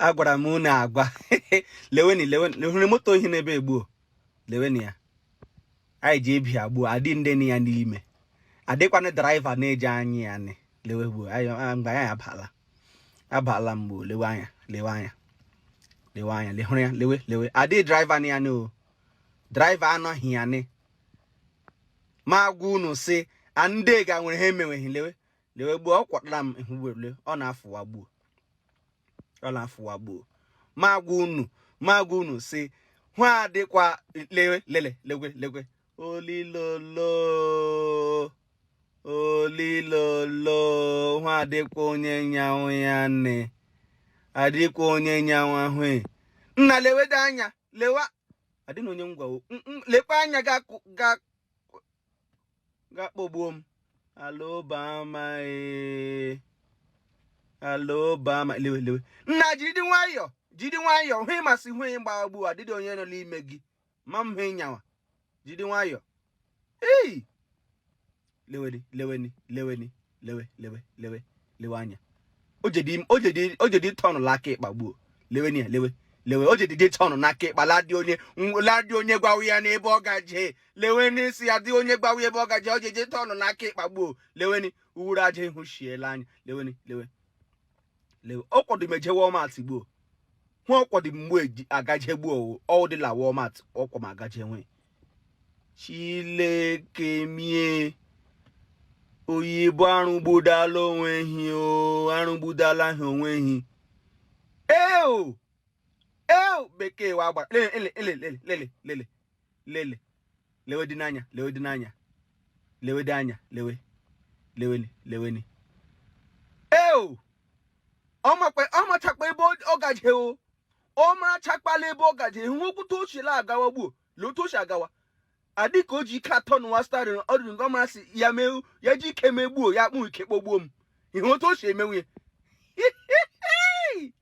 agwara m unu agwa leweni leweni hụrụ moto ohi n'ebe e gbuo leweni ya anyị ji abịa gbuo adị ndị na ya n'ime adịkwana driver na-eji anyị ya nị lewe gbuo mgbe anyị abala abala mgbe lewe anya lewe anya lewe anya lehụrụ ya lewe lewe adị driver na ya nị o driver anọghị ya nị ma agwa unu si ndị ga nwere ha emenweghị lewe lewe gbuo ọ kwatara m ihu werule ọ na-afụwa gbuo ọ na-afụwa gbuo ma agwa unu ma agwa unu si hụ adịkwa lewe lele legwe legwe olilolo olilolo hụ adịkwa onye nyanwụ ya nne adịkwa onye nyanwụ ahụ e. nna lewede anya lewa adịna onye ngwa lekwa anya ga-akpọgbuo m alobama e. alobama lewe lewe nna jidi nwayọọ jidi nwayọọ hụ ịmasị hụ ị gbaa gbuo adịdị onye nọ n'ime gị ma m hụ ịnyawa jidi nwayọọ ei leweni leweni leweni lewe lewe lewe lewe anya o jedi tọnụ la aka ịkpa gbuo leweni ya lewe lewe o jedi tọnụ n'aka ịkpa ladị onye ladị onye gwawa ya n'ebe ọ gaje leweni si adị onye gwawa ebe ọ gaje o jedi tọnụ n'aka ịkpa gbuo leweni uwuru aja ihu shiela anya leweni lewe ọ kwọdị m eje walmart gbuo hụ ọ kwọdị m gbuo agaje gbuo ọ wụdị la walmart ọ kwọ m agaje nwe chileke m e oyibo arụgbudala onwe hi o arụgbudala ha onwe hi eo eo bekee wa gbara lele lele lele lele lele lewe dị n'anya lewe dị n'anya lewe dị anya lewe leweni leweni eo ọ machakwa ebe ọ gaje o ọ marachakpala ebe ọ gaje hụ okwute o si la agawa gbuo lee otu o si agawa adị ka o ji ike atọnụwa steering ọ dịrị nke ọ masị ya mee ya ji ike megbuo ya akpụ ike kpọgbuo m ihe otu o si emenwu ya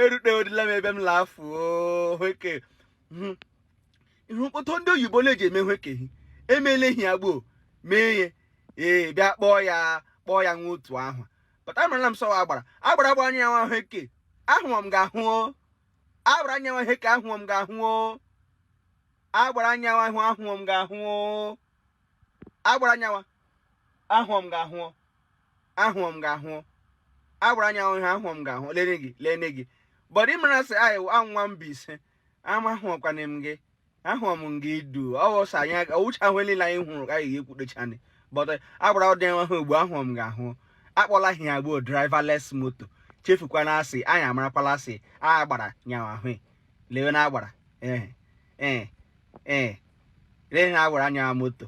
erutedila m ebe m lafu hweke hmm. ihe mkpọtụ ndị oyibo na-eji eme hwekehi emela ehi ya gbuo mee ihe ee bịa kpọọ ya kpọọ ya nwa otu ahụ pụta marala m sọwa agbara agbara gbara anyawa hweke ahụọ m ga-ahụ agbara anyawa hweke ahụọ m ga-ahụ agbara anyawa ahụ ahụọ m ga-ahụ agbara anyawa ahụọ m ga-ahụ ahụọ m gị ahụọ agbara nyawa ahụ ihe ahụọ m gị ahụ lene gị lene gị bọdụ ị mara sị anyị a nwa Mbaise ama ahụọkwana m gị ahụọ m gị du ọwụsa anyị ọ wụcha ahụ niile anyị hụrụ ka anyị ga-ekwudocha anyị bọdụ agbara ụdị nwa ha ugbu ahụọ m gị ahụọ akpọla ihe ya gboo driverless moto chefukwana asị anyị amarakwala asị agbara nyawa ahụ lewe na agbara ee ee ee lee na agbara nyawa moto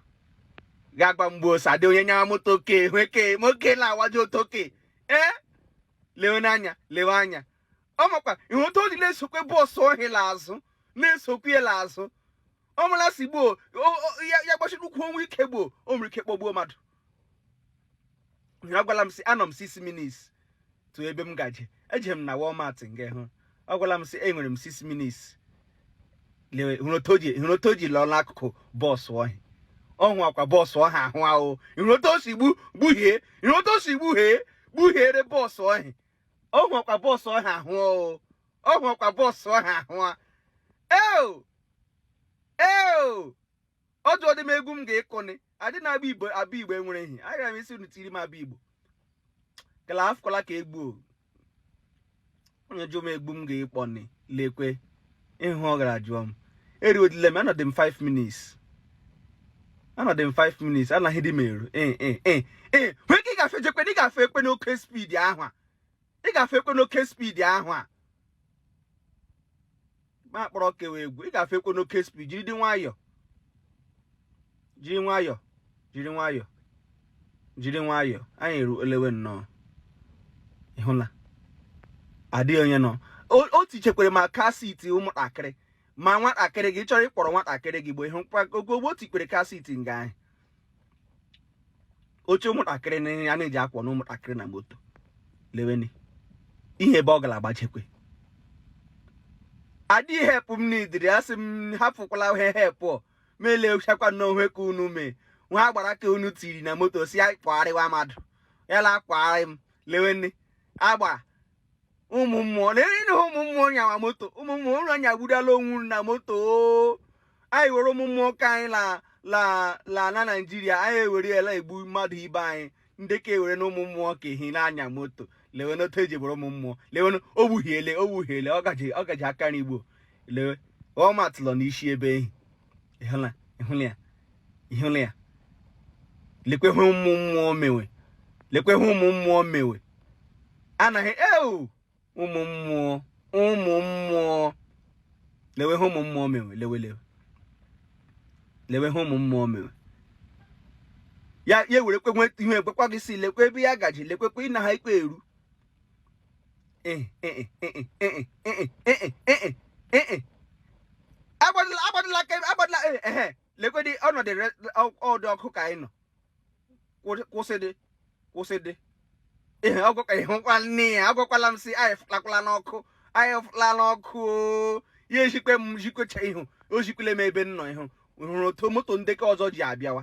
ga-agwa m gbo sị adị onye nyawa moto ke hweke moke la awaji otoke ee eh? lewe n'anya lewe anya ọ makwa ihe otu o ji na-esokwe bọọsụ ọhị la azụ na-esokwe la azụ ọ mala sị gboo ya gbachiri ukwuu o nwe ike gboo o nwere ike kpọgbuo mmadụ ọ gwala m sị anọ m six minutes to ebe m gaje eje m na Walmart nga ahụ ọ gwala m sị enwere m six minutes lewe hụrụ otu o ji lọọ n'akụkụ bọọsụ ọhị ọ hụọkwa bọọsụ ọha ahụ ahụ hụrụ otu o si gbu gbuhiere bọọsụ ọhị ọ hụọkwa bọọsụ ọha ahụ ọ hụọkwa bọọsụ ọha ahụ a eo eo ọ jụọdị m egwu m ga-ekọni adị na Abigbo Abigbo enwere ehi agara m ịsị unu tiri m Abigbo kala afụkwala ka egwu onye jụọ m egwu m ga-ekpọni lekwe ihe ọ gara jụọ m eruwedila m anọdị m 5 minutes anọdị m 5 minutes anaghị dị m eru ee eh, eh, eh, ee nwee ka ị gafe jekwe na ị gafekwe n'oke speed ahụ a ị gafekwe n'oke speed ahụ a ma akpọrọ kewa egwu ị gafekwe n'oke speed jiri dị nwayọọ jiri nwayọọ jiri nwayọọ jiri nwayọọ anyị eruo lewe nụ ị hụla adịghị onye nọ o tichekwere ma car seat ụmụntakịrị ma nwatakịrị gị ị chọrọ ịkpọrọ nwatakịrị gị gbo ihe gbo o tikwere car seat nga ahị oche ụmụntakịrị na ya na-eji akwọ na ụmụntakịrị na moto leweni ihe ebe ọ gara agbachekwe adị help m needịrị asị m hapụkwala ihe help m lechakwanụ ihe ka unu mee ihe agbara ka unu tiri na moto sị ya kwọgharịwa mmadụ ya la akwọgharị m leweni agba ụmụ mmụọ lee na ụmụ mmụọ nyawa moto ụmụ mmụọ ụlọ nya gbudala onwu na moto anyị were ụmụ mmụọ ka anyị la na Naijiria anyị ewere ya la egbu mmadụ ibe anyị ndị ka ewere na ụmụ mmụọ ka ehi na-anya moto lewe n'otu e ji buru ụmụ mmụọ lewe o gbuhiele o gbuhiele ọ gaji aka nri gbo lewe ọ matụla n'isi ebe ehi ịhụla ịhụla ya ịhụla ya lekwe ihe ụmụ mmụọ mewe lekwe ihe ụmụ mmụọ mewe anaghị eu ụmụ mmụọ ụmụ mmụọ lewe ihe ụmụ mmụọ mewe lewe lewe lewe ihe ụmụ mmụọ mewe ya ya were kwe ihe ekwekwa gị isi lekwe ebe ya gaji lekwekwe ịna ha ikpe eru agbadịla aka agbadịla ehe lekwedị ọnọdụ ọdụ ọkụ ka anyị nọ kwụsịdị kwụsịdị ihe ọgwụkwa ihe nkwa nne ya agwakwala m sị anyị fụlakwala n'ọkụ anyị fụla n'ọkụ ya ejikwe m jikwecha ihu o jikwele m ebe m nọ ihu hụrụ otu moto ndị ke ọzọ ji abịawa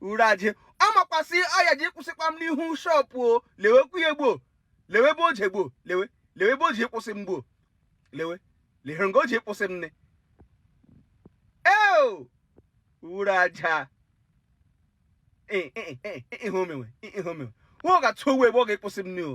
uraje ọ makwa sị ọ ya ji kwụsịkwa m n'ihu shọpụ o lewekwu ya gboo lewe ebe o ji gboo lewe lewe ebe o ji kwụsị m gboo lewe lehere nga o ji kwụsị m nne eo uraja ihe o mewe ihe o mewe nwa ọ ga-atụ owu ebe ọ ga-ịkwụsị m nne o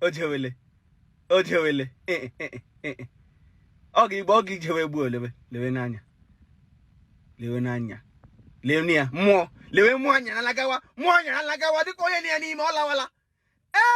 o jewele o jewele ọ ga igbe ọ ga-ijewe gboo lewe lewe n'anya lewe n'anya lewe ya mmụọ lewe mmụọ anya alagawa mmụọ anya alagawa dịka onye na ya n'ime ọ lawala